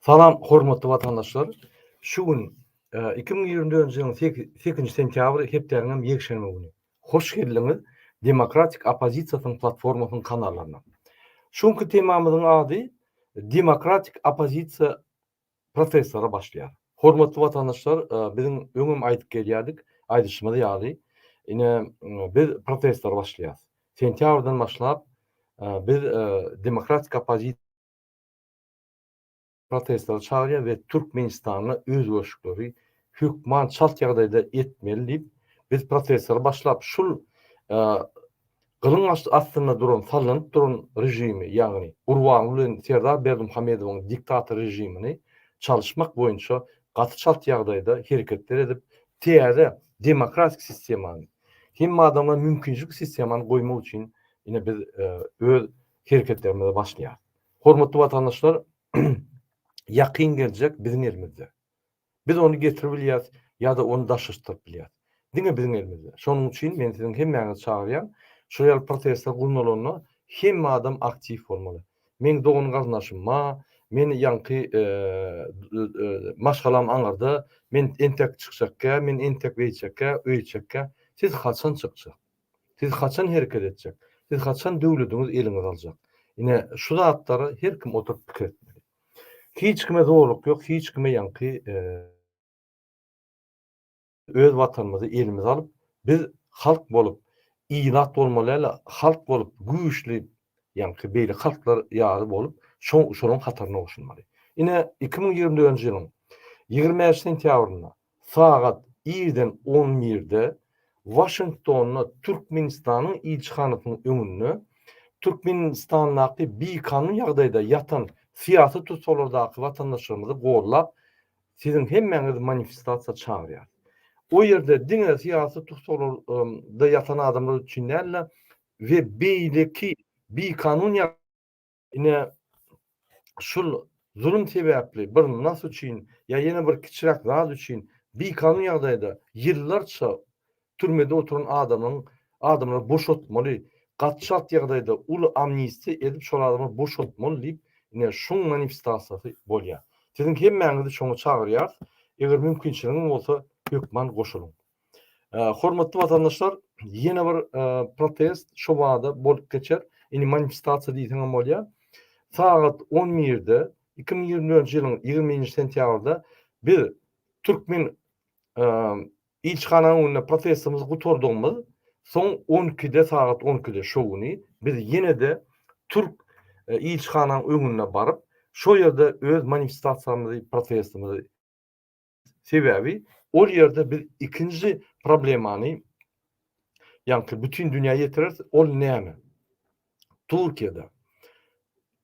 Salam, hormatly watandaşlar! Şu gün, iki müň ýigrimi dördünji ýylyň sekizinji sentýabry, hepdäniň hem ýekşenbe güni. Hoş geldiňiz Demokratik oppozisiýasynyň platformasynyň kanallaryna. Şu günki temamyzyň ady Demokratik oppozisiýa professora başlaýar. Hormatly watandaşlar, biziň öňem aýdyp gelýärdik, aýdyşymyz ýaly, ine, biz professora başlaýarys. Sentýabrdan başlap, biz demokratik oppozisiýa professory çagyrýar we Türkmenistanda özgerişikleri hökman çalt ýagdaýda etmeli diýip, biz professora başlap, şul Gylyň astynda duran sallanyp duran režimi, ýagny Gurbanguly bilen Serdar Berdimuhamedowyň diktator režimini çalyşmak boýunça gaty çalt ýagdaýda hereketler edip, täze demokratik sistemany, hemme adama mümkinçilik sistemany goýmak üçin ine biz öz hereketlerimize başlaýarys. Hormatly watandaşlar, ýakyn geljek biziň elimizde. Biz ony getirip bilýäris ýa-da ony daşlaşdyryp bilýäris. Diňe biziň elimizde. Şonuň üçin men siziň hemmäňizi çagyrýan, şular ýaly protestler gurnalanda hemme adam aktiw bolmaly. Meň dogan garyndaşym ma, men ýaňky maşgalam aňyrda, men entek çykjakkä, men entek beýtjekkä, öýtjekkä. Siz haçan çykjak? Siz haçan hereket etjek? Siz haçan döwlediňiz eliňize aljak? Ine, şu zatlary her kim oturyp pikir etmeli. Hiç kime zorluk ýok, hiç kime ýaňky öz watanymyzy elimize alyp, biz halk bolup, ilat bolmaly ýaly, halk bolup güýçli, ýaňky beýleki halklar ýaly bolup, şo-şolaryň hataryna goşulmaly. Ine, iki müň ýigrimi dördünji ýylyň ýigrimi bäş sentýabrynda Sagat irden on birde Waşingtonda Türkmenistanyň ilçihanasynyň öňünde Türkmenistandaky bikanun ýagdaýda ýatan syýasy tussaglyrdaky watandaşlarymyzy gollap, siziň hemmäňizi manifestasiýa çagyrýarys. O ýerde diňe syýasy tussaglarda ýatan adamlar üçin däl-de we beýleki bikanun Ine, şul zulum sebäpli bir nas üçin ýa ýene bir kiçiräk zat üçin bikanun ýagdaýda ýyllarça türmede oturan adamyň adamlary boşatmaly, gaty çalt ýagdaýda uly amnistiýa edip şol adamlary boşatmaly diýip, ine, şuň manifestasiýasy bolýar. Siziň hemmäňizi şoňa çagyrýarys. Eger mümkinçiligiňiz bolsa, hökman goşulyň. Hormatly watandaşlar, ýene bir protest şu bada bolup geçer. Indi manifestasiýa diýseň hem bolýar. Sagat 11-de 2024-nji ýylyň 20-nji sentýabrda biz türkmen ilçihananyň öňünde protestimizi gutardygymyz, soň 12-de sagat 12-de şo güni biz ýene-de türk e, ilçihananyň öňüne baryp, şo ýerde öz manifestasiýamyzy, protestimizi Sebäbi ol ýerde biz ikinji problemany ýaňky bütin dünýä ýetireris. Ol näme? Türkiýede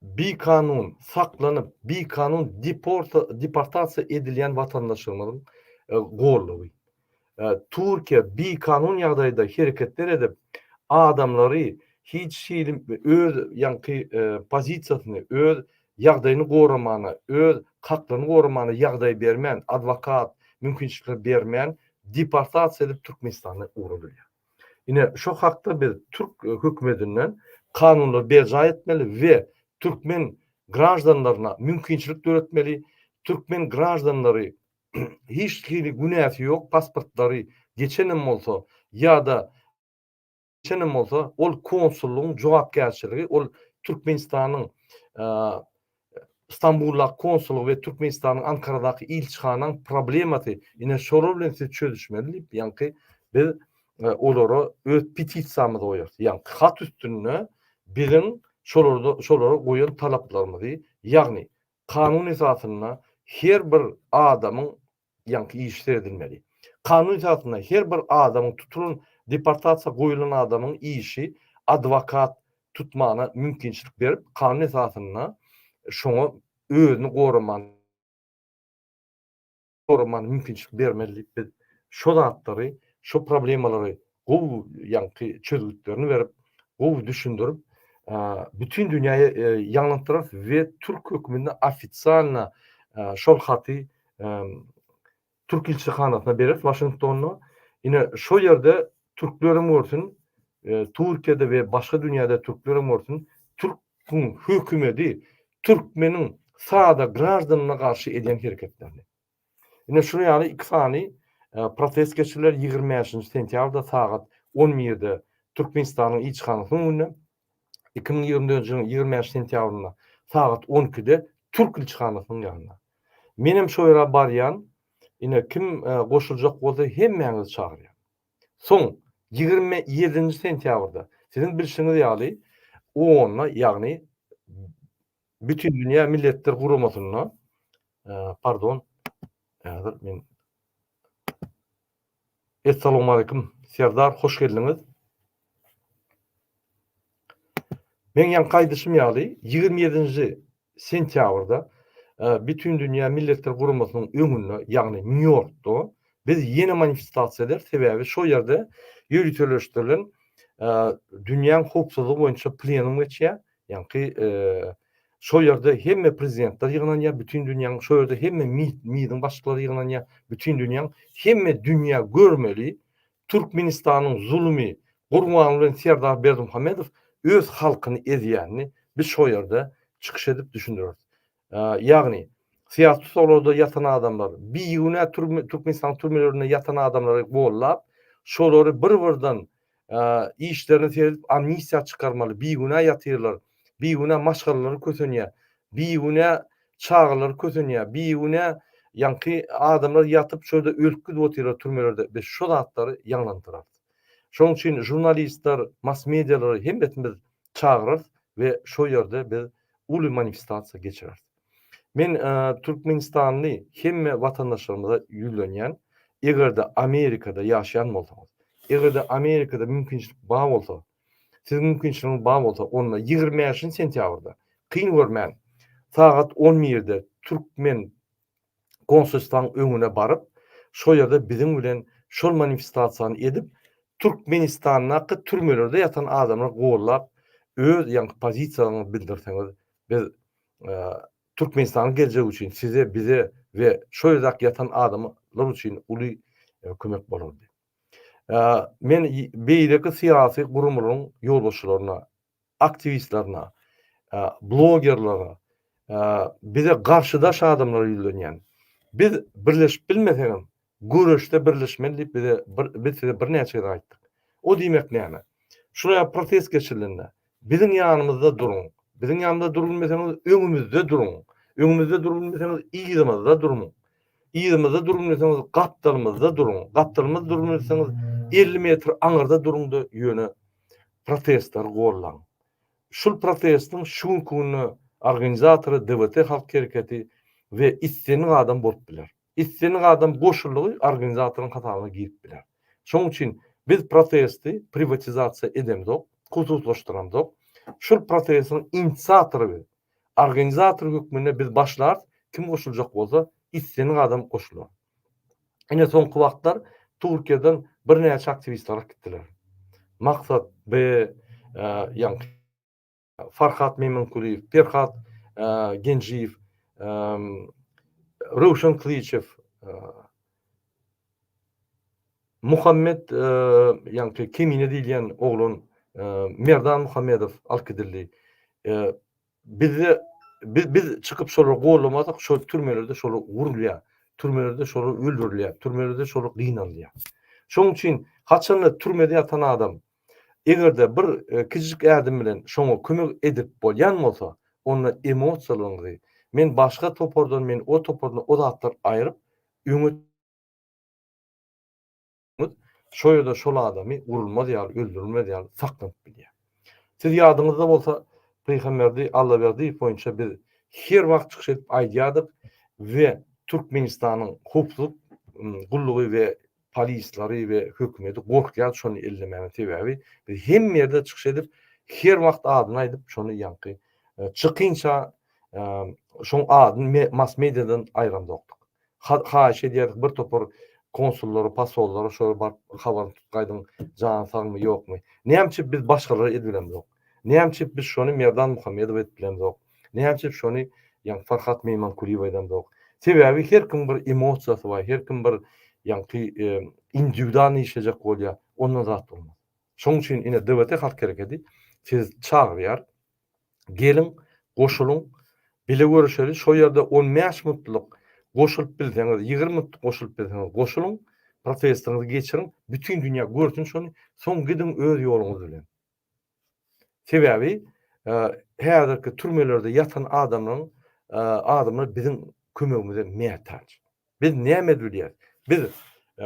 bikanun saklanyp, bikanun deportasiýa edilýän watandaşlarymyzyň e, gollugy. Türkiýe bikanun ýagdaýda hereketler edip, adamlary hiç hili öz ýaňky pozisiýasyny, öz ýagdaýyny goramana, öz haklaryny goramana ýagdaý bermän, adwokat mümkinçilikler bermän, deportasiýa edip Türkmenistana ugry bilýär. Ine, şo hakda biz türk hökümetinden kanunlary berjaý etmeli we türkmen graždanlaryna mümkinçilik döretmeli, türkmen graždanlary hiç hili günäsi ýok, pasportlary geçenem bolsa ýa-da geçenem bolsa, ol konsullygyň jogapkärçiligi ol Türkmenistanyň Stambuldaky konsullygy we Türkmenistanyň Ankaradaky ilçihanaň problemasy. Ine şolar bilen siz çözüşmeli diýip, ýaňky biz e, olara öz petisiýamyzy goýarys. Ýaňky hat üstünde biziň şolarda şolara goýan talaplarymyzy, ýagny Kanun esasynda her bir adamyň, ýaňky iş seredilmeli. Kanun esasynda her bir adamyň, tutulan, deportasiýa goýulan adamyň işi adwokat tutmana mümkinçilik berip, kanun esasynda şoňa özüni goramany, goramaga mümkinçilik bermez diýip biz şo zatlary, şo problemalary gowy ýaňky çözgütlerini berip, gowy düşündirip, bütin dünýäye ýaňlandyraris we türk höküminde ofisialna şol haty türk ilçihanasyna bereris Waşingtonda. Ine şo ýerde Türkleriň bolsun, Turkiýada we başga dünýäde türkleriň bolsun, türküň hökümedi türkmeniň sada graždanyna garşy edýän hereketlerini. Ine şular ýaly iki sany protest geçiriler ýigrimi bäşinji sentýabrda sagat on birde Türkmenistanyň ilçihanasynyň öňünde. iki müň ýigrimi dördünji ýylyň ýigrimi bäş sentýabrynda sagat on ikide türk ilçihanasynyň ýanynda. Menem şo ýere barýan, ine, kim goşuljak bolsa hemmäňizi çagyrýan. Soň ýigrimi ýedinji sentýabrda, siziň bilşiňiz ýaly, onda, ýagny Bütindünýä Milletler Guramasynda, pardon, häzir men Essalamualeýkum, Serdar, hoş geldiňiz. Men ýaňky aýdyşym ýaly, ýigrimi ýedinji sentýabrda Bütindünýä Milletler Guramasynyň öňünde, ýagny Nýu-Ýorkda biz ýene manifestasiýa eder, sebäbi şol ýerde ýöriteleşdirilen dünýäň howpsuzlygy boýunça plenum geçýär, Ýaňky şo ýerde hemme prezidentler ýygnanýar, bütin dünýäň şo ýerde hemme MID-iň başlyklary ýygnanýar, bütin dünýäň hemme dünýä görmeli Türkmenistanyň zulumi Gurban bilen Serdar Berdimuhamedow öz halkyny ezýänini biz şo ýerde çykyş edip düşündireris. Ýagny, syýasy tussaglarda ýatan adamlar, bigünä Türkmenistanyň türmelerinde ýatan adamlary gollap, şolary bir-birden işlerini seredip amnistiýa çykarmaly, bigünä ýatyrlar, bigünä maşgalalary kösenýär, bigünä çagalary kösenýär, bigünä ýaňky adamlar ýatyp şo ýerde ölüp gidip otyrlar türmelerde, biz şo zatlary ýaňlandyrarys. Şonuň üçin žurnalistler, mass-medialary hemmesini biz çagyrarys we şo ýerde biz uly manifestasiýa geçireris. Men türkmenistanly hemme watandaşlarymyza ýüzlenýän, eger-de Amerikada ýaşaýan bolsaňyz, eger-de Amerikada mümkinçilik bar bolsa, siziň mümkinçiligiňiz bar bolsa, onda ýigrimi bäşinji sentýabrda, kyn görmän, sagat on birde türkmen konsulstwaň öňüne baryp, şo ýerde biziň bilen şol manifestasiýany edip, Türkmenistandaky türmelerde ýatan adamlar gollap, öz ýaňky pozisiýalaryňyzy bildirseňiz, biz Türkmenistanyň geljegi üçin size, bize we şo ýerdäki ýatan adamlar üçin uly kömek bolardy. Men beýleki syýasy gurumlaryň ýolbaşçylaryna aktiwistlerine, blogerlere, bize garşydaş adamlara ýüzlenýän. Biz birleşip bilmesegem, göreşde birleşmeli diýip bize biz size birnäçe gezek aýtdyk. O diýmek näme? Şular ýaly protest geçirilende, biziň ýanymyzda duruň, biziň ýanymyzda durup bilmeseňiz, öňümizde duruň, öňümizde durup bilmeseňiz, yzymyzda duruň, yzymyzda durup bilmeseňiz, gapdalymyzda duruň, gapdalymyzda durup bilmeseňiz, elli metr aňyrda duruň-da, ýöne protestleri gollan. Şul protestiň şu günki günde organizatory DWT Halk Hereketi we islendik adam bolup biler. Islendik adam goşuldygy organizatoryň hasabyna girip biler. Şoň üçin biz protesti priwatizasiýa edemzok, hususlaşdyramzok. Şul protestiň inisiatory we organizatory hökmünde biz başlarys, kim goşuljak bolsa islendik adam goşular. Ine soňky wagtlar Türkiýeden birnäçe aktiwist galyp gitdiler. Maksat B, ýa Farhat Meýmenkulyýew, Perhat Genjiýew, Röwşen Kylyçew, Muhammet ýaňky Kemine diýilýän oglan Merdan Muhammedow alyp gidildi. Bizde biz biz çykyp şolary goldamasak şol türmelerde şolar urulýar. Türmelerde şolar öldürilýär. Türmelerde şolar gynalýar. Şonuň üçin haçanda türmede ýatan adam egerde bir e, kiçijik ädim bilen şoňa kömek edip bolýan bolsa, onda emosiýalaryňyzy men başga topardan, men o topardan o zatlar aýryp öňe bolsaňyz, şo ýerde şol adamy urulmaz ýaly, öldürilmez ýaly saklanyp bilýär. Siz ýadyňyzda bolsa, Pygamberdi Allaberdiýew boýunça biz her wagt çykyş edip aýdýardyk we Türkmenistanyň howpsuzlyk gullugy we polislary we hökümeti gorkýardy şony ellemäge sebäbi biz hemme ýerde çykyş edip her wagt adyny aýdyp şony ýaňky e, çykynça e, şoň adyny mass mediadan aýramzokdyk Haýyş edýäris bir topar konsullary pasollary şolara baryp habaryny tutup gaýdyň jany sagmy ýokmy. Näme üçin biz başgalara edip bilemzok. Näme üçin biz şony Merdan Muhammedowa edip bilemzok. Näme üçin şony ýaňky Farhat Meýmankulyýewa edemzok. Sebäbi her kim bir emosiýasy bar her kim bir ýaňky indiwidualnyý işlejek bolýar ondan zat bolmaz. Şonuň üçin ine DWT halk herekedi sizi çagyrýar. Geliň, goşulyň, bile görüşeli, şo ýerde on bäş minutlyk goşulyp bilseňiz, ýigrimi minutlyk goşulyp bilseňiz goşulyň, protestiňizi geçiriň, bütin dünýä görsün şony, soň gidiň öz ýoluňyz bilen. Sebäbi häzirki türmelerde ýatan adamlaryň adamlar biziň kömegimize mätaç. Biz näme edip bilýäris? Biz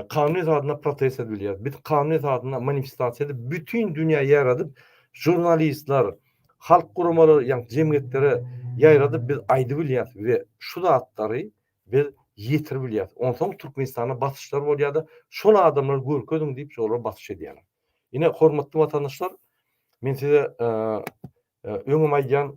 kanun esasynda protest edip bilýäris. Biz kanun esasynda manifestasiýa edip, bütin dünýä ýaradyp, žurnalistler, halk guramalary, ýa jemgyýetlere ýaýradyp biz aýdyp bilýäris we şu zatlary biz ýetirip bilýäris. Onsoň Türkmenistana basyşlar bolýar-da, şol adamlary görkeziň diýip, şolara basyş edýärler. Ine, hormatly watandaşlar, men size öňem aýdýan,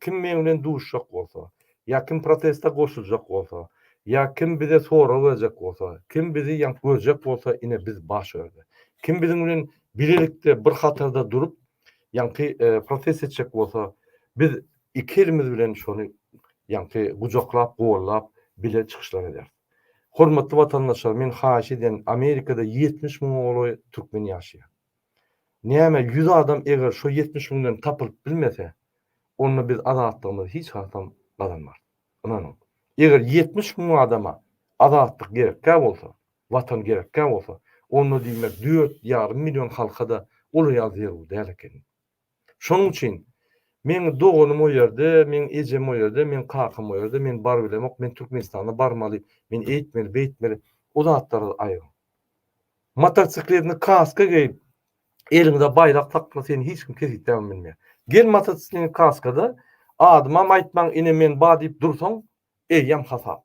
Kim meň bilen duşjak bolsa, ýa kim proteste goşuljak bolsa, ýa kim bize sorag berjek bolsa, kim bizi ýaňk görjek bolsa, ine biz baş öňde. Kim biziň bilen bilelikde bir hatarda durup, ýaňky protest etjek bolsa, biz iki elimiz bilen şony ýaňky gujaklap, gollap bile çykyşlar ederis. Hormatly watandaşlar, men haýyş edýän, Amerikada ýetmiş müňe golaý türkmen ýaşaýar. Näme ýüz adam eger şo ýetmiş müňden tapylyp bilmese onda biz azatlygymyzy hiç hasam gazanmarys. Ynanyň. Eger ýetmiş müň adama azatlyk gerekkä bolsa, watan gerekkä bolsa onda diýmek dört ýarym million halka-da ol ýa zerur däl ekeni. Şonuň üçin, Meň doganym o ýerde, meň ejem o ýerde, meň kakam o ýerde, men bar bilemok, men Türkmenistana barmaly, men eýtmeli, beýtmeli, o zatlara aýryň. Motosikletini kaska geýip, eliňde baýrak sakla, seni hiç kim kesgitläp bilmeýär. Gel motosikletini kaskada, adymam aýtmaň, ine men ba diýip dursaň, eýýäm hasap.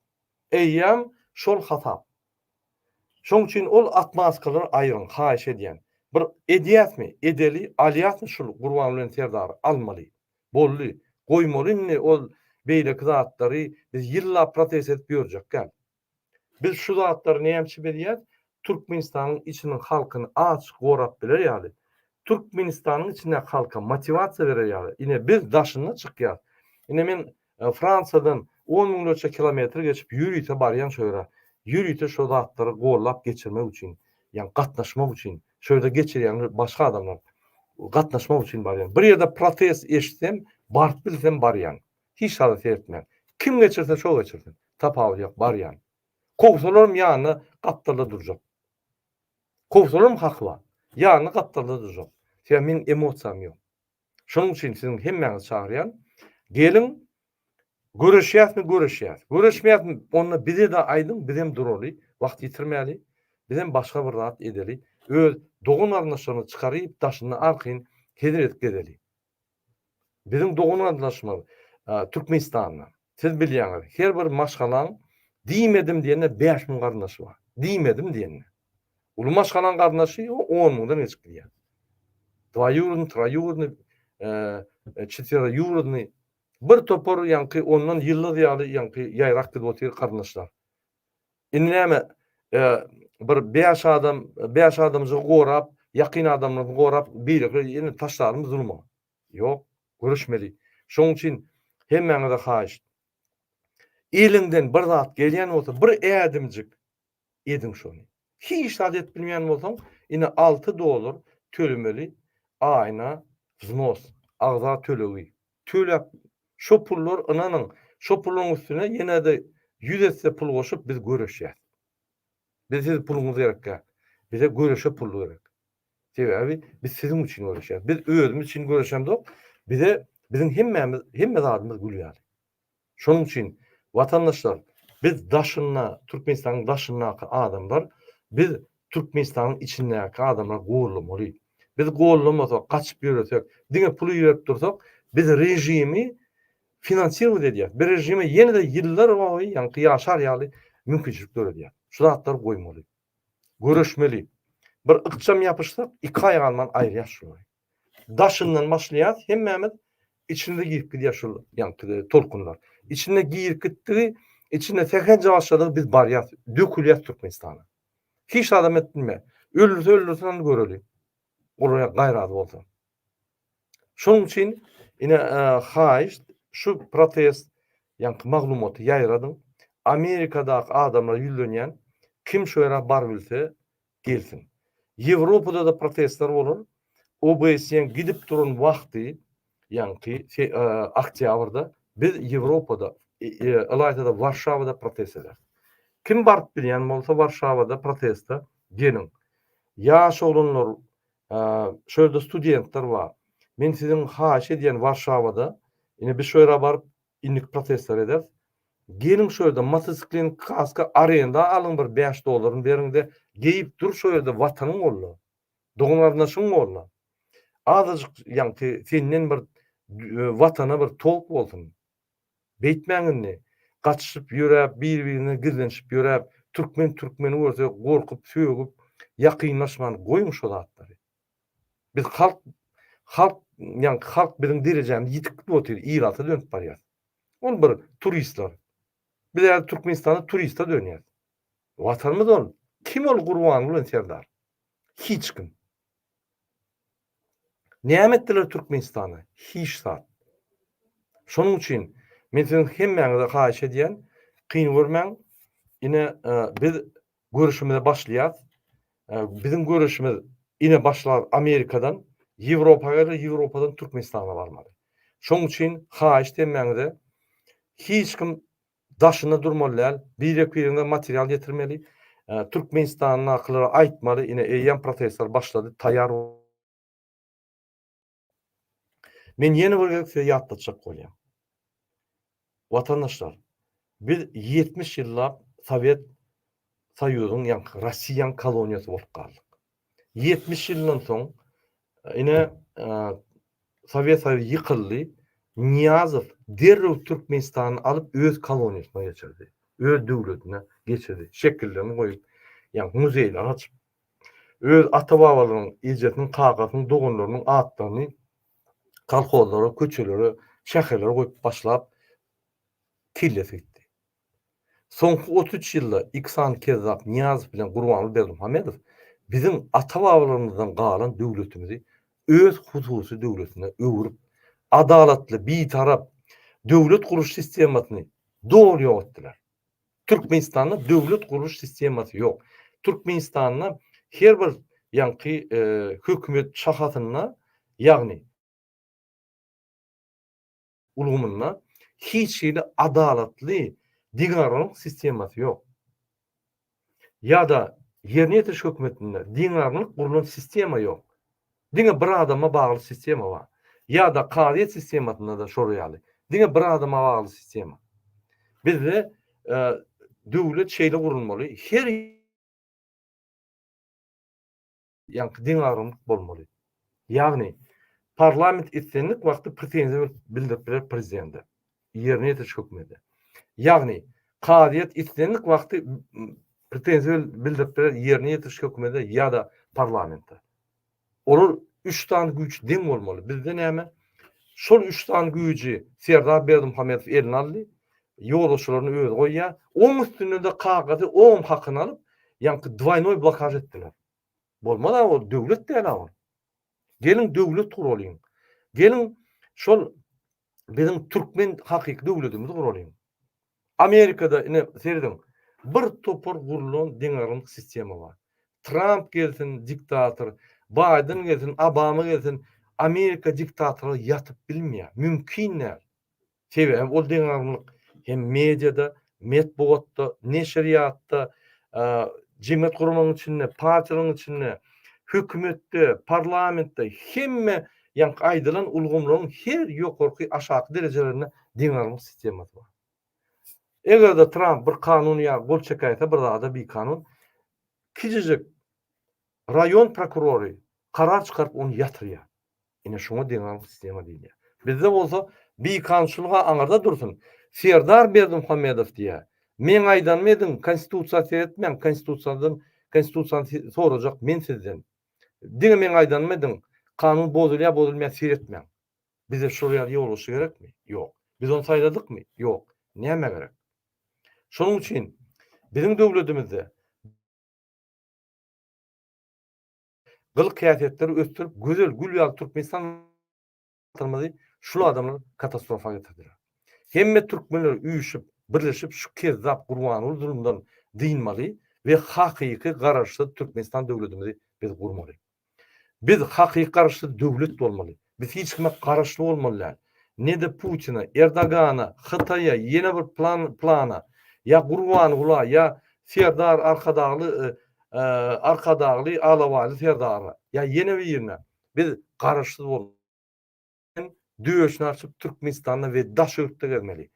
Eýýäm şol hasap. Şoň üçin ol atmaskalary aýyryň haýyş edýän. Bir edýäsmi, edeli, alýasmy şul Gurban bilen Serdary, almaly. Boldy, goýmaly indi ol beýleki zatlary biz ýyllap protest edip ýörjek däl. Biz şu zatlary näme üçin edýäs, Türkmenistanyň içiniň halkyny aç gorap biler ýaly, Türkmenistanyň içindäki halka motiwasiýa berer ýaly. Ine biz daşyna çykýas. Ine men Fransiýadan on müňlerçe kilometr geçip ýörite barýan şu ýere. Ýörite şu zatlary gollap geçirmek üçin, ýagny gatnaşmak üçin. Şu ýerde geçirýän başga adamlar. Gatnaşmak üçin barýan. Bir ýerde protest eşitsem, baryp bilsem barýan. Hiç zada seretmän. Kim geçirse şo geçirsin. Tapawudy ýok, barýan. Kowsalaram ýanyna gapdalda durjak. Kowsalaram hakly. Ýanyna gapdalda durjak. Sebäbi meniň emosiýam ýok. Şonuň üçin siziň hemmäňizi çagyrýan. Geliň, göreşýäsmi, göreşýäs. Göreşmeýäsmi, onda bize-de aýdyň, bizem duraly, wagt ýitirmäli, bizem başga bir zat edeli, öz dogan-garyndaşlaryny çykaryp, daşynda arkaýyn hezil edip gezeli. Biziň dogan-garyndaşymyz Türkmenistanda. Siz bilýäňiz, her bir maşgalaň diýmedim diýende bäş müň garyndaşy bar. Diýmedim diýende. Uly maşgalaň garyndaşy on müňden geçip gidýär. Dwaýurodny, traýurodny, eee, çetweroýurodny, bir topar ýaňky ondan ýyldyz ýaly ýaňky ýaýrak gidip otyr garyndaşlar. Indi näme, eee, bir bäş adam, bäş adamjygy gorap, ýakyn adamlaryny gorap, beýleki ýene taşlarmy zuluma? Ýok, görüşmeli. Şoň üçin hemmäňize haýyşt. Eliňden bir zat gelýän bolsa, bir ädimjik ediň şony. Hiç zat edip bilmeýän bolsaň, ine alty dollar tölemeli aýyna wznos, agza tölegi. Töläp, şo pullar, ynanyň, şo puluň üstüne ýene-de ýüz esse pul goşup biz göreşýäs. Biz siz puluňyz gerek däl. Bize göreşe pul gerek. Sebäbi biz siziň üçin göreşýäs. Biz özümiz üçin göreşemzok. Bize biziň hemmämiz, hemme zadymyz gül ýaly. Şonuň üçin watandaşlar, biz daşynda, Türkmenistanyň daşyndaky adamlar, biz Türkmenistanyň içindäki adamlary gollamaly. Biz gollamasak, gaçyp ýöresek, diňe pul iberip dursak, biz režimi finansirować edýäs. Biz režime ýene-de ýyllar boýy ýaňky ýaşar ýaly mümkinçilik döredýäs. Şu zatlary goýmaly. Göreşmeli. Bir ykjam ýapyşsak, iki aýak alman aýyrýas şulary. Daşyndan başlaýas, hemmämiz içine girip gidýär şul ýaňky tolkunlar. Içine girip gitdigi, içine sähelje başladygy biz barýas, dökülýäs Türkmenistana. Hiç adam et bilmeýär. Öldürse öldürsin onda göreli. Golaýar gaýraly bolsa. Şonuň üçin ine haýyş şu protest ýaňky maglumaty ýaýradyň. Amerikadaky adamlara ýüzlenýän kim şu ýere bar bilse gelsin. Ýewropada-da protestler bolar. OBSE-niň gidip duran wagty ýaňky oktýabrda biz Ýewropada ylaýta-da Warşawada protest ederis. Kim baryp bilýän bolsa Warşawada proteste geliň. Ýaş oglanlar Şu ýerde studentler bar. Men siziň haýyş edýän Warşawada, ine biz şu ýere baryp indik protestleri ederis. Geliň şu ýerde motosiklin kaska arenda alyň bir bäş dollaryny beriňde geýip dur şu ýerde watanyň golda. Dogan garyndaşyň golda. Azajyk ýaňky senden bir watana bir tolk bolsun. Beýtmäň indi. Gaçyşyp ýöräp, bir-birinden gizlenişip ýöräp, türkmen türkmeni görse gorkup, sögüp, ýakynlaşman goýuň şo zatlary. Biz halk, halk, ýaňky halk biziň derejämiz ýitik gidip otyr, ilatsa dönüp barýas. Ol bir turistler. Biz häzir Türkmenistanda turiste dönýäs. Watanymyz ol. Kim ol Gurbanguly bilen Serdar? Hiç kim. Näme etdiler Türkmenistana? Hiç zat. Şonuň üçin men siziň hemmäňize haýyş edýän, kyn görmäň. Ine, biz göreşimize başlaýas. Biziň göreşimiz ine başlar Amerikadan, Ýewropa geler, Ýewropadan Türkmenistana barmaly. Şonuň üçin haýyşt hemmäňize, hiç kim Daşynda durmaly däl. Birek biriňe material getirmeli. Türkmenistandakylara aýtmaly ine eýýäm protestler başlady taýýar boluň. Men ýene bir gezek size ýatlatjak bolýan. Watandaşlar biz ýetmiş ýyllap Sowet Soýuzyň ýaňky Rossiýaň koloniýasy bolup galdyk. Ýetmiş ýyldan soň, ine, Sowet Soýuzy ýykyldy. Nyýazow derrew Türkmenistany alyp, öz koloniýasyna geçirdi. Öz döwletine geçirdi. Şekillerini goýup, ýagny muzeýleri açyp, öz ata-babalarynyň, ejesiniň, kakasynyň, doganlarynyň atlaryny kolhozlara, köçelere, şäherlere goýup başlap, kellesi gitdi. Soňky otuz üç ýylda Iksan Kezzap Nyýazow bilen Gurbanguly Berdimuhamedow biziň ata-babalarymyzdan galan döwletimizi öz hususy döwletine öwrüp, adalatly, bitarap döwlet guruş sistemasyny doly ýok etdiler. Türkmenistanda döwlet guruş sistemasy ýok. Türkmenistanda her bir ýaňky hökümet şahasynda, ýagny, ulgamynda hiç hili adalatly deňagramlyk sistemasy ýok. Ýa-da ýerine ýetiriş hökümetinde deňagramlyk gurlan sistema ýok. Diňe bir adama bagly sistema bar. Ýa-da kazyýet sistemasynda-da şol ýaly. Diňe bir adama bagly sistema. Bizde döwlet şeýle gurulmaly, her Ýaňky deň agramlyk bolmaly. Ýagny, parlament islendik wagty pretenziýa bildirip biler prezidende, ýerine ýetiriş hökmünde. Ýagny, kazyýet islendik wagty pretenziýa bildirip biler ýerine ýetiriş hökmünde ýa-da parlamente. Olar üç sany güýç deň bolmaly. Bizde näme? Şol üç sany güýji Serdar Berdimuhamedow eline aldy. Ýolbaşçylaryny özi goýýar. Oň üstünden-de kagyzy oň hakyny alyp, ýaňky dwaýnoý blokaj etdiler. Bolmaz-a ol, döwlet däl-a ol. Geliň döwlet guralyň. Geliň şol biziň türkmen hakyky döwledimizi guralyň. Amerikada ine serediň, bir topar gurlan deňagramlyk sistema bar. Tramp gelsin, diktator, Baýden gelsin, Obama gelsin, Amerika diktatorlygy ýatyp bilmeýär, mümkin däl. Sebäbi ol deňagramlyk hem mediada, metbugatda, neşirýatda, jemgyýet guramagyň içinde, partiýalaryň içinde, hökümetde, parlamentde, hemme ýaňky aýdylan ulgamlaryň her ýokarky, aşaky derejelerinde deňagramlyk sistemasy bar. Eger-de Tramp bir kanun ýa gol çekäýse bir zada bikanun, kiçijik raýon prokurory karar çykaryp ony ýatyrýar. Ine şuňa deňaglyk sistema diýilýär. Bizde bolsa bikanunçylyga aňyrda dursun. Serdar Berdimuhamedow diýýär, Meň aýdanymy ediň, konstitusiýa seretmäň, konstitusiýadan konstitusiýany sorajak men sizden. Diňe meň aýdanymy ediň, kanun bozulýar, bozulmaýar seretmäň. Bize şol ýaly ýolbaşçy gerekmi? Ýok. Biz ony saýladykmy? Ýok. Näme gerek? Şonuň üçin biziň döwletimizde Gylyk-häsiýetleri ösdürip, gözel gül ýaly Türkmenistan Watanymyzy şul adamlar katastrofa getirdiler. Hemme türkmenler üýşüp, birleşip şu kezzap Gurbanguly zulumdan dynmaly we hakyky Garaşsyz Türkmenistan döwletimizi biz gurmaly. Biz hakyky Garaşsyz döwlet bolmaly. Biz hiç kime garaşly bolmaly däl. Ne-de Putina, Erdogana, Hytaýa, ýene bir plana, ýa Gurbangula, ýa Serdar Arkadagly, Arkadagly, Alabaýly Serdara, ýa ýene birine biz garaşsyz bolup, hem döşüni açyp Türkmenistanda we daş ýurtda gezmeli.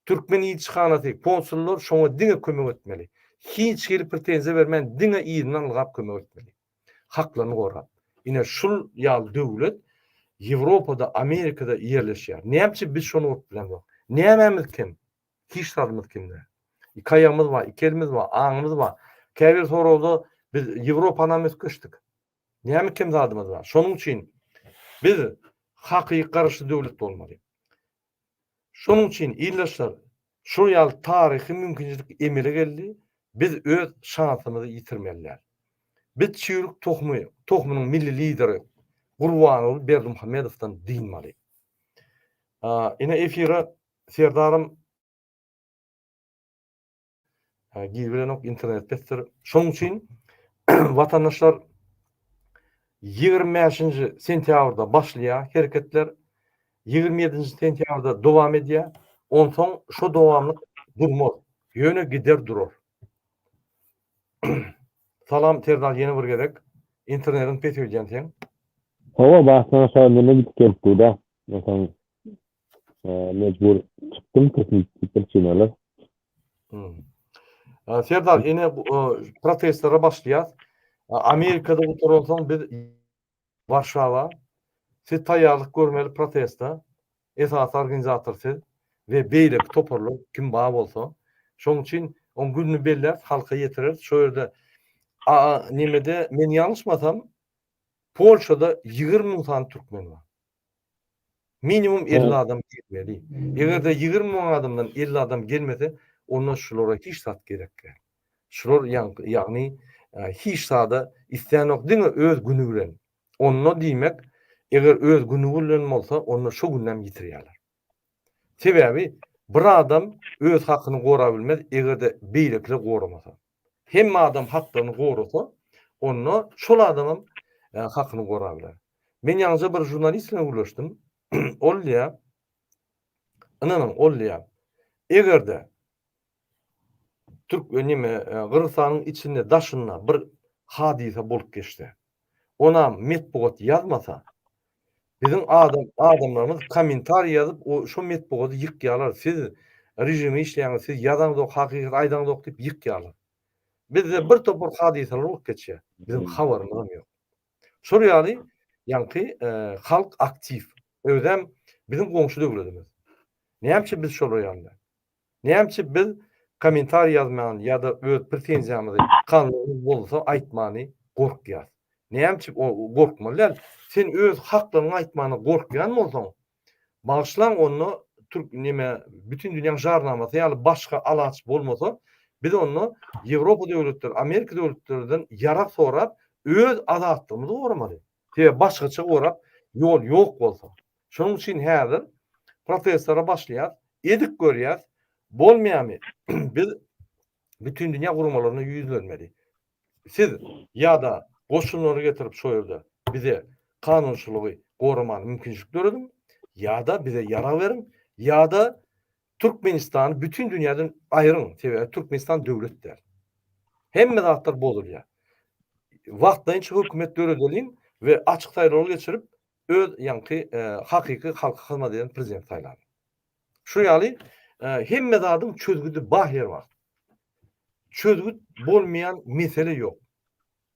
Türkmen ilçihanasy, konsullar şoňa diňe kömek etmeli. Hiç hili pretenziýa bermän diňe yzyndan ylgap kömek etmeli. haklaryny gorap. Ine şul ýaly döwlet Ýewropada, Amerikada ýerleşýär. Näme üçin biz şony urup bilemzok? Nämemiz kim? Hiç zadymyz kim däl. Iki aýagymyz bar, iki elimiz bar, aňymyz bar. Käbir soragda biz Ýewropanam üýtgeşdik. Näme kim zadymyz bar? Şonuň üçin biz hakyky garaşsyz döwlet bolmaly. Şonuň üçin, ildeşler, şol ýaly taryhy mümkinçilik emele geldi, biz öz şansymyzy ýitirmelidir. Biz çüýrük tohumy, tohumynyň milli lideri Gurbanguly Berdimuhamedowdan dynmaly. Ine efire Serdarym. Yani girilenok internet pesdir. Şonuň üçin vatandaşlar 25-nji sentýabrda başlaýar hereketler. 27-nji sentýabrda dowam edýär. Onsoň şu dowamlyk durmaz. Ýöne gider durar. Salam Serdar ýene bir gezek. Internetiň pes öýdýän sen. Hawa, başdan aşagy neme gidip gelipdi-da. Onsoň mejbur çykdym tehniki pricinalar. Serdar ene protestlere başlaýar. Amerikada gutaralsaň biz Warşawa siz taýýarlyk görmeli protesta esas organizator siz we beýleki toparlar kim bar bolsa şoň üçin oň gününi belläp halka ýetireris şo ýerde nemede men ýalňyşmasam Polşada ýigrimi müň sany türkmen bar. Minimum elli adam gelmeli. Eger-de ýigrimi müň adamdan elli adam gelmese, onda şulara hiç zat gerek däl. Şular ýagny hiç zada islenok, diňe öz güni bilen. Onda diýmek, eger öz güni bilen bolsa, onda şo günem ýitirýärler. Sebäbi bir adam öz hakyny gorabilmez, eger-de beýlekiler goramasa. Hemme adam haklarny gorasa, onda şol adamam hakyny gora biler. Men ýaňyja bir žurnalist bilen gürleşdim. Ol diýýär, ynanyň, ol diýýär, eger-de türk, neme, Gyrgyzystanyň içinde, daşynda bir hadysa bolup geçse, onam metbugat ýazmasa, Biziň adam adamlarymyz komentariý ýazyp o şo metbugady ýykýalar siz režime işleýäňiz siz ýazaňzok hakykaty aýdaňzok diýip ýykýalar. Bizde bir topar hadysalar bolup geçýä biziň habarymyzam ýok. Şol ýaly ýaňky halk aktiw özem biziň goňşy döwletimiz. Näme üçin biz şolar ýaly däl. Näme üçin biz kommentariý ýazman ýa-da öz pretenziýamyzy kanalymyz bolsa aýtmany gorkýas? Näme üçin gorkmaly däl? Sen öz haklaryňy aýtmana gorkýan bolsaň, bagyşlaň onda türk neme bütin dünýäň jarnamasy ýaly başga alaç bolmasa, biz onda Ýewropa döwletleri, Amerika döwletlerden ýarag sorap öz azatlygymyzy goramaly. Sebäbi başgaça gorap ýol ýok bolsa. Şonuň üçin häzir protestlere başlaýas, edik görýäs, bolmaýamy biz bütin dünýä guramalaryna ýüzlenmeli. Siz ýa-da goşunlary getirip şo ýerde bize kanunçylygy goramaga mümkinçilik dörediň, ýa-da bize ýarag beriň, ýa-da Türkmenistany bütin dünýäden aýryň, sebäbi Türkmenistan döwlet däl. Hemme zatlar bozulýar. Wagtlaýynça hökümet döredeliň we açyk saýlawlar geçirip, öz ýaňky e, hakyky halka hyzmat eden prezident saýlalyň. Şu ýaly e, hemme zadyň çözgüdi bar her wagt. Çözgüt bolmaýan mesele ýok.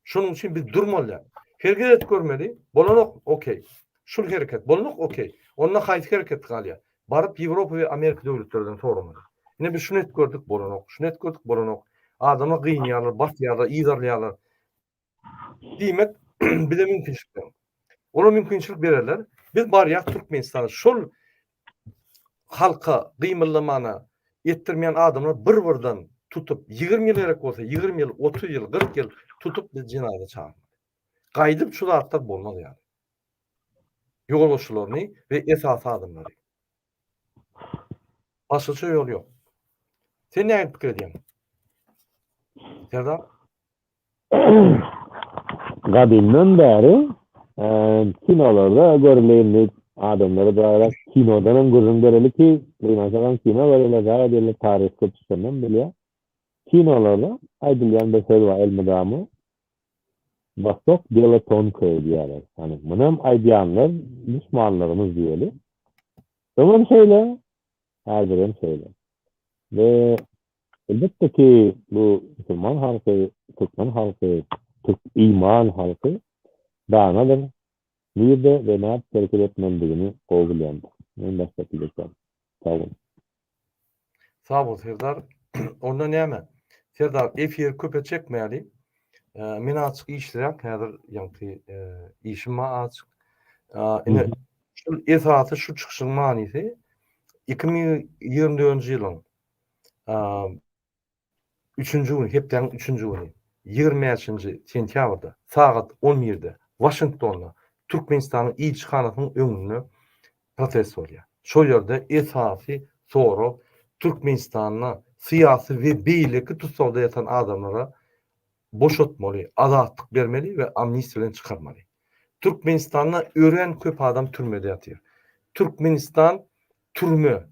Şonuň üçin biz durmalydýar. Hereket görmeli, bolanok, okey. Şul hereket, bolanok, okey. Onda haýsy hereket galýar? Baryp Ýewropa we Amerika döwletlerinden soramaly. Ine biz şuny edip gördük, bolanok, şuny edip gördük, bolanok. Adama gynýarlar, basýarlar, yzarlaýarlar. Diýmek, bize mümkinçilik ber. Olar mümkinçilik bererler. Biz barýas Türkmenistana. Şol halka gymyldamana etdirmeýän adamlar bir birden tutup ýigrimi ýyl gerek bolsa ýigrimi ýyl otuz ýyl gyrk ýyl tutup biz jenaýada çagyr gaýdyp şu zatlar bolmaz ýaly ýolbaşçylaryny we esasy adamlary başgaça ýol ýok sen näme pikir edýäň serdar gadymdan bäri kinolarda görülendik adamlara daýra kinodan hem gürrüň bereli ki duýmasaňam kino görele zaýa diýle taryh köpüsünden bilýä kinolarda aýdylýan bir söz bar elmydama Wostok delo tonkoe diýýärler. Ýani munam aýdýanlar düşmanlarymyz diýeli. Öňem şeýle, häzirem şeýle. Ve Elbetde ki, bu musulman halky, türkmen halky, türk iman halky danadyr, nirde we nädip hereket etmelidigini gowy bilýändir. Men başga söz aýtýan. Sag bol. Sag bol Serdar. Onda näme? Serdar efir köpe çekmäli. Men azjyk işlirän häzir ýaňky işim bar azjyk. Ine şu esasy şu çykyşyň manysy iki müň ýigrimi dördünji ýylyň üçünji gün, hepdäniň üçünji güni, ýigrimi bäşinji sentýabrda sagat on birde Waşingtonda Türkmenistanyň ilçihanasynyň öňünde protest bolýar. Şol ýerde esasy sorag Türkmenistanda syýasy we beýleki tussagda ýatan adamlara boşatmaly, azatlyk bermeli we amnistiýa bilen çykarmaly. Türkmenistanda örän köp adam türmede ýatyr. Türkmenistan türme,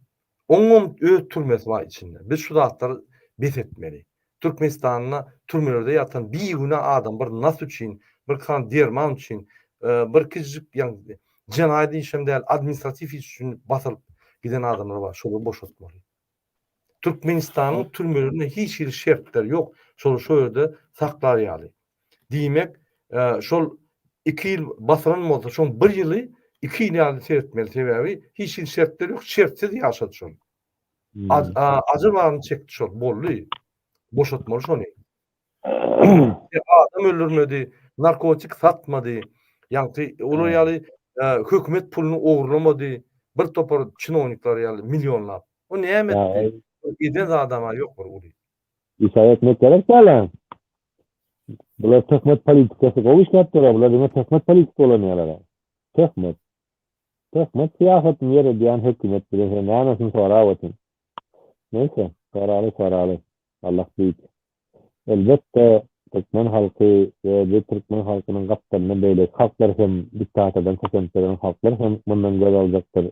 Oňam öz türmesi bar içinde. Biz şu zatlary bes etmeli. Türkmenistanda türmelerde ýatan bigünä adam bir nas üçin, bir kran derman üçin, bir kiçijik ýagny jenaýat iş hem däl, administratiw iş üçin basylyp giden adamlar bar. Şolary boşatmaly. Türkmenistanyň türmelerinde hiç hili şertler ýok. Şolary şo ýerde saklar ýaly. Diýmek, şol iki ýyl basylan bolsa, şoň bir ýyly iki ýyl ýaly seretmeli, sebäbi hiç hili şertler ýok, şertsiz ýaşady şol. Ajy baryny çekdi şol, boldy. Boşatmaly şony. Adam öldürmedi, narkotik satmady, ýagty olar ýaly hökümet puluny ogurlamady, bir topar çinownikler ýaly millionlap. O näme etdi? Eden zady-a ýok bir uly. Isýan etmek gerek däl-ä. Bular töhmet politikasy gowy işläpdiler, bular diňe töhmet politika ulanýarlar. Töhmet. Töhmet syýasatyny ýöredýän hökümet bilen sen nämesin sorap otyň. Neýse, soraly, soraly. Allah beýik. Elbetde, türkmen halky we bu türkmen halkynyň gapdalynda beýleki halklar hem, diktatordan kösenip ýören halklar hem mundan göz aljakdyr.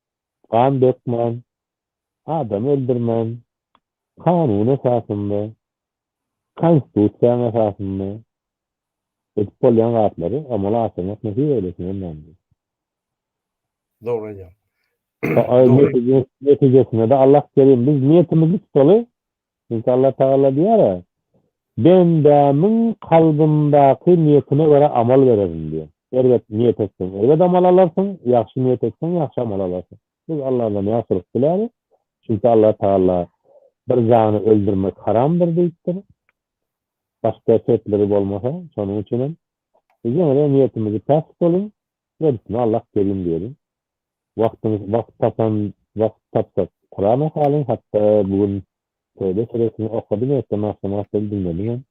Gan dökmän, adam öldürmän, kanun esasynda, konstitusiýaň esasynda edip bolýan zatlary amala aşyrmak nesip eýlesin hemmämize. Dogry aýdýaň. Netijesinde-de Allah kerim. Biz niýetimizi tutaly. Çünki Allah Tagala diýýär-ä, Bendämiň kalbyndaky niýetine görä amal bererin diýýär. Erbet niýet etseň, erbet amal alarsyň, ýagşy niýet etseň, ýagşy amal alarsyň. Biz Allahdan ýagşylyk diläris. Çünki Allah Tagala, Bir jany öldürmek haramdyr diýipdir. Başga şertleri bolmasa, şonuň üçin hem, biz ýene-de niýetimizi päk tutulyň, gerisine Allah kerim diýeliň. Wagtyňyz wagt tapan wagt tapjak. Kurana halyň hatda bu gün Töbe süresini okadym ertem agşam agşam diňledim hem.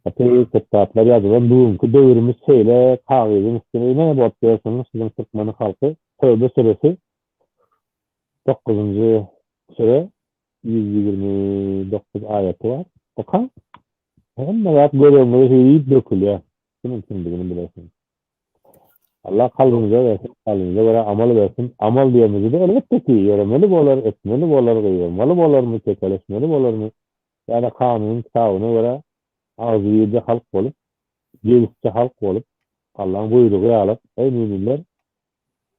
Gaty köp zatlar ýazylan bu günki döwrümiz şeýle kagyzyň üstüne ine bolup ýörsiňiz siziň türkmeniň halky Töbe süresi dokuzynjy süre ýüz ýigrimi dokuz aýaty bar okaň hemme zat göz öňüňize hüýr diýip dökülýär kimiň kimdigini bilersiňiz. Allah kalbyňyza bersin, kalbyňyza görä amal bersin. Amal diýenimizi-de elbetde ki, ýöremeli bolar, etmeli bolar, gygyrmaly bolarmy, çekeleşmeli bolarmy ýa-da kanunyň kitabyna görä agzybirje halk bolup, jebisçi halk bolup, Allaň buýrugy ýaly, Eý müminler!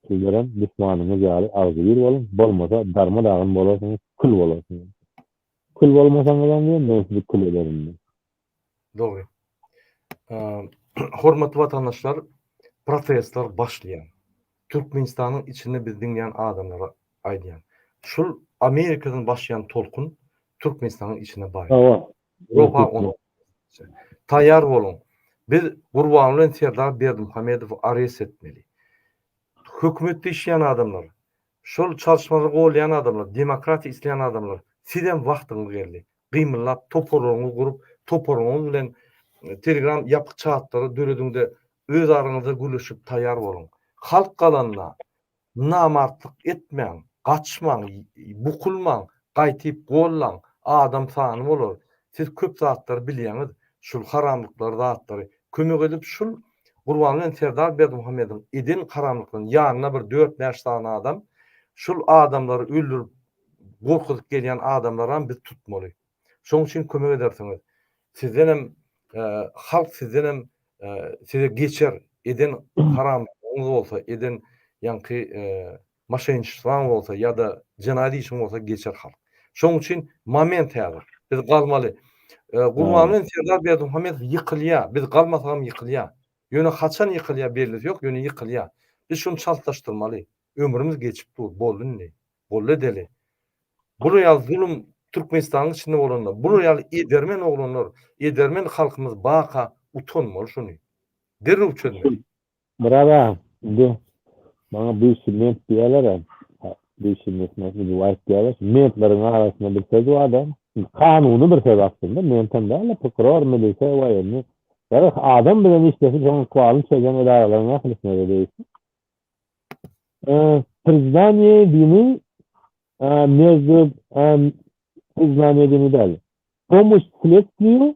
Sizlerem duşmanyňyz ýaly agzybir boluň, bolmasa darma-dagyn bolarsyňyz, kül bolarsyňyz. Kül bolmasaňyzam diýen, men sizi kül ederin diýen. Dogry. Hormatly watandaşlar, protestler başlaýar. Türkmenistanyň içinde biz diňleýän adamlara aýdýan. Şul Amerikadan başlaýan tolkun Türkmenistanyň içine barýar. Ýoka onuň. Taýýar boluň. Biz Gurban bilen Serdar Berdimuhamedowy arest etmeli. Hökümetde işleýän adamlar, Şol çalyşmada golýan adamlar, demokratiýa isleýän adamlar, sizem wagtyňyz geldi. Gymyllap, toparlaryňyzy gurup, toparyňyz bilen Telegram ýapyk çatlary dörediňde öz araňyzda gürleşip taýýar boluň. Halk galanda namartlyk etmäň, gaçmaň, bukulmaň, Gaýtyp gollaň, adam sany bolar, siz köp zatlary bilýäňiz, şul haramlyklary zatlary, kömek edip şul Gurban bilen Serdar Berdimuhamediň eden haramlyklaryny ýanyna bir dört bäş sany adam, şul adamlary öldürip gorkuzyp gelýän adamlaram biz tutmaly. Şoň üçin kömek edersiňiz. Sizdenem halk sizdenem size geçer eden haramlyklaryňyz bolsa eden ýaňky Maşenniçtwaň bolsa ýa-da jenaýat işiň bolsa geçer halk. Şoň üçin moment häzir. Biz galmaly. Gurban bilen Serdar Berdimuhamedow ýykylýa. Biz galmasagam ýykylýa. Ýöne haçan ýykylýa bellisi ýok, ýöne ýykylýa. Biz şuny çaltlaşdyrmaly. Ömrümiz geçip dur. Boldy indi. Boldy edeli. Bular ýaly zulum Türkmenistanyň içinde bolanda, bular ýaly edermen oglanlar, edermen halkymyz baka utanmaly şuny. Derrew çözmeli. Myrat aga, indi maňa biýşi ment diýýäler-ä. Biýşi ment ujup aýtýarlar. Şu mentleriň arasynda bir söz bar-da, indi kanuny bir söz aslynda, ment hem däl-de, prokuror, milisiýa, woýenniý. Ýa-da adam bilen işleşip, şonuň ykbalyny çözýän edaralaryň ählisine-de degişli. Priznaniýe dini mezde, priznaniýe dini däl, pomoş sledstwiýu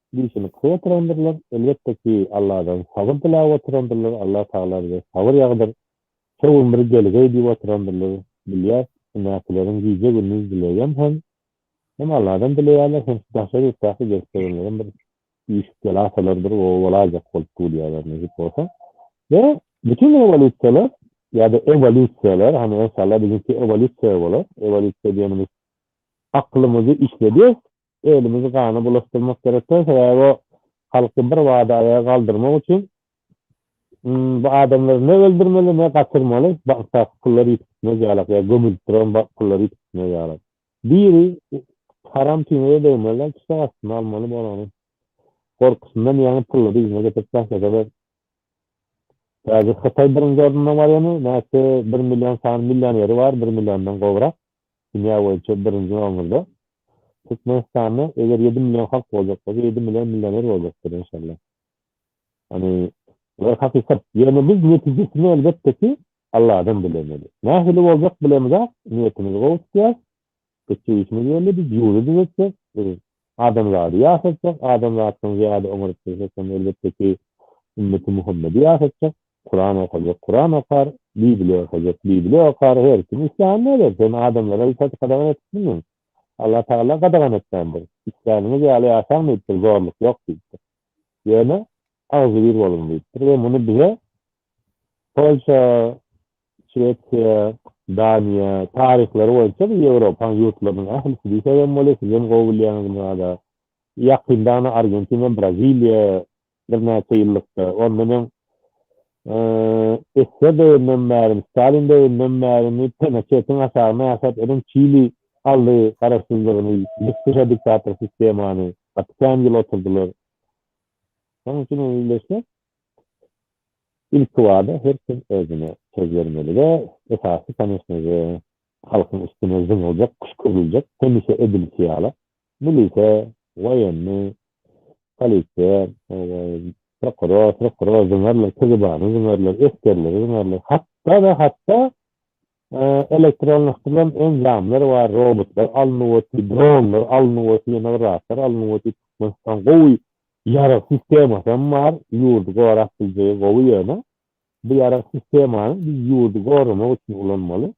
Dişini kysy ýatyrandyrlar. Elbetde ki Alladan sabyr dilap oturandyrlar. Allah Tagala bize sabyr ýagdyr. Şo gün bir gelgeý diýip oturandyrlar. Bilýäs üstündäkileriň gije gündiz dileýän hem hem Alladan dileýärler hem şu daşary ýurtdaky gelip gelenlerem bir işik bela salardyr gowy bolaýjak bolup durýarlar nesip bolsa. We bütin rewolýusiýalar ýada ewolýusiýalar hany enşalla biziňki ewolýusiýa bolar. Ewolýusiýa diýenimiz aklymyzy işledýäs. Elimizi gana bulaşdyrmak gerek däl, sebäbi o halky bir bada aýaga galdyrmak üçin bu adamlary ne öldürmeli, ne gaçyrmaly, bankdaky pullar ýitip gitmez ýalak, ýa gömülip duran pullar ýitip gitmez ýalak. Biri haram tüýnüge degmeli-de, çyşak astyna almaly bolany. Gorkusyndan ýaňy pullary yzyna getirip taşlasalar, häzir Hytaý birinji orunda barýany, nätse bir million sany millioneri bar, bir milliondan gowrak. Dünýä boýunça birinji nomerda Türkmenistanda eger ýedi million halk boljak bolsa ýedi million millioner boljakdyr enşalla. Ýagny bular hakykat. Ýöne biz netijesini elbetde ki Alladan dilemeli. Nähili boljak bilemizok, niýetimizi gowy tutýas, etjek işimiz belli biz ýurdy düzetjek, biz Adamzady ýaşatjak, adamzatdan zyýada oňaryp dursaçam, elbetde ki, ümmeti Muhammedi ýaşatjak. Kuran okajak, Kuran okar, Bibliýa okajak, Bibliýa okar, her kim islänini eder. Sen adamlara hiç zat gadagan edip bilmeň. Allah Tagala gadagan etmändir. Isläniňiz ýaly ýaşaň diýipdir, zorluk ýok diýipdir. Ýöne agzybir boluň diýipdir we muny bize Polşa, Şwesiýa, Daniýa, taryhlary boýunça bu Ýewropaň ýurtlarynyň ählisi diýse hem bolar, siz hem gowy bilýäňiz muny ada. Ýakynda ana Argentina, Braziliýa birnäçe ýyllykda, ondan öň SSR döwründen bärimi, Stalin döwründen bärimi Pinoçetiň aşagyna ýaşap ölen Çili aldy garaşsyzlygyny, ýykyşa diktator sistemany, gaty kän ýyl oturdylar. Şonuň üçin meýilleşmek, ilkibada, her kim özüne söz bermeli we esasy, konýeçnede, halkyň üstüne zyňyljak, küşküriljek, hemişe edilişi ýaly, milise, woýenni, polisiýa, prokuror, prokuror zyňarlar, KGB-ni zyňarlar, esgerleri zyňarlar, hatda-da, hatda Elektronlaşdyrylan enjamlar we robotlar alnyp otdy, dronlar alnyp otdy, ýene bir zatlar alnyp otdy. Türkmenistan gowy ýarag sistemasy hem bar, ýurdy gorap biljegi gowy ýöne bu ýarag sistemany biz ýurdy goramak üçin ulanmaly.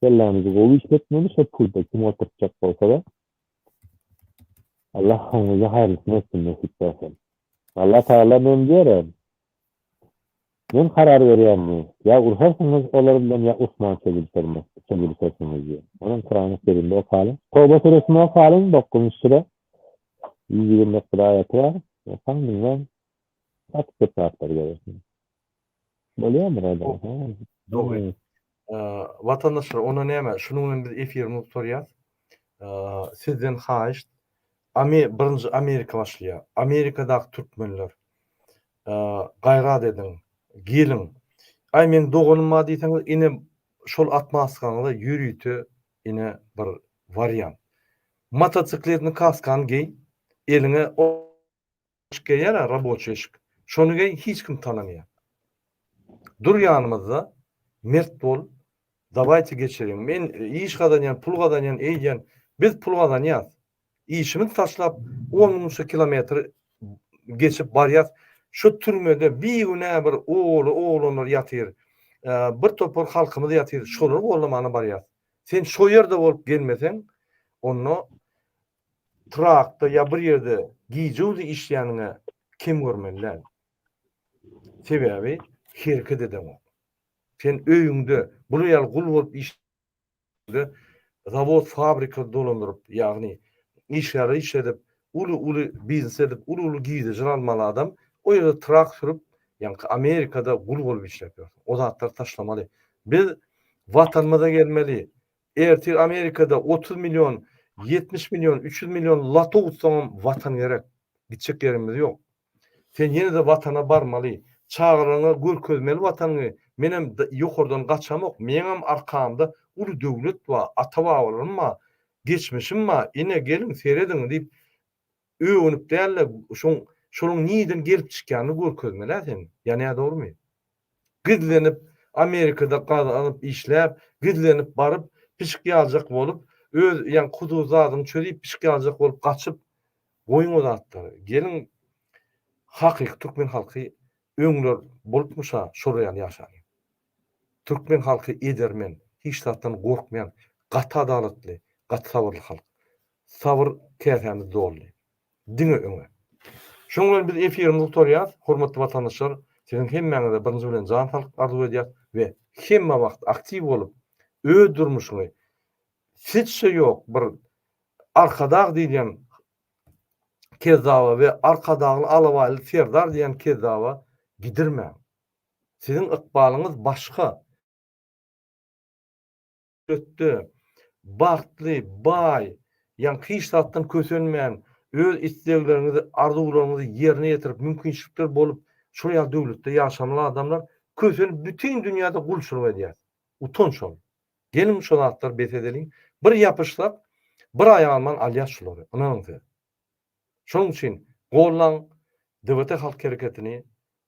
Kellämizi gowy işletmeli, şo pulda kim oturtjak bolsada Allah hammyza haýyrlysyny etsin nesip bolsa. Alla Tagala men diýerin, Men karar berýän bu. Ýa urşarsyňyz olar bilen ýa Usman çözülişersiňiz diýen. Onuň Kurany Kerimde okalyň. Toba süresini okalyň dokuzynjy süre ýüz ýigrimi dokuz aýaty bar. Okaň diňläň. Gaty köp zatlar görersiňiz. Bolýarmy Rada? Dogry. Watandaşlar onda näme şunuň bilen biz efirimizi gutarýas. Sizden haýyşt birinji Amerika başlaýar. Amerikadaky türkmenler gaýrat ediň geliň. Aý meň doganym bar diýseňiz ine şol atmaskaňyza ýörite ine bir wariant. Motosikletni kaskany geý eliňe Şyk geýýärä raboçiýe şyk. Şony geý hiç kim tanamaýar. Dur ýanymyzda mert bol dawaýte geçeliň. Men iş gazanýan pul gazanýan eýýän biz pul gazanýas. Işimiz taşlap on müňçe kilometr geçip barýas. Şu türmede bigünä bir ogly oglanlar ýatyr. Bir topar halkymyz ýatyr şolary gollamana barýas. Sen şo ýerde bolup gelmeseň onda Trakda ýa bir ýerde gije-gündiz işleýäniňe kem görmeli däl. Sebäbi hereket edeňok. Sen öýüňde bula ýaly gul bolup işlände zawod, fabrika dolandyryp, ýagny işgärleri işledip, uly-uly biznes edip, uly-uly girdejiler almaly adam o ýerde trak sürüp, ýaňky Amerikada gul bolup işläp ýör. O zatlary taşlamaly. Biz Watanymyza gelmeli. Ertir Amerikada otuz million, ýetmiş million, üç ýüz million loto utsaňam Watan gerek. Gitjek ýerimiz ýok. Sen ýene-de Watana barmaly. Çagalaryňa görkezmeli Watanyňy. Menem ýokardan gaçamok. Meňem arkamda uly döwlet bar, ata-babalarym bar, geçmişim bar. Ine, geliň, serediň diýip, Öwünip däl-de, şoň, şonuň nirden gelip çykýanyny görkezmeli-ä sen. Ýanýar, dogrumy? Gizlenip, Amerikada gaz alyp, işläp, gizlenip baryp, pişik ýaljak bolup, öz, ýaňy kuzu zadyňy çözip, pişik ýaljak bolup gaçyp, goýuň o zatlary. Geliň, hakyky türkmen halky öňler bolupmyş-a, şolar ýaly ýaşalyň. Türkmen halky edermen, hiç zatdan gorkmaýan, gaty adalatly, gaty sabyrly halk. Sabyr käsämiz doldy. Diňe öňe! Şunuň bilen biz efirimizi gutarýas. Hormatly watandaşlar, siziň hemmäňize birinji bilen jan saglyk arzuw edýäs we hemme wagt aktiw bolup, öz durmuşyňy hiç-şe ýok bir Arkadag diýilýän kezzaba we Arkadagly alabaýly serdar diýýän kezzaba gidirmäň. Siziň ykbalyňyz başga. Ötde, bagtly, baý, ýaňky hiç zatdan kösenmän, öz islegleriňizi, arzuwlaryňyzy ýerine ýetirip, mümkinçilikler bolup, şol ýaly döwletde ýaşamaly adamlar kösenip bütin dünýäde gulçulyk edýär. Utanç ol. Geliň şo zatlary bes edeliň. Bir ýapyşsak, bir aýak alman alýas şulary. Ynanyň siz. Şonuň üçin gollaň DWT halk hereketini,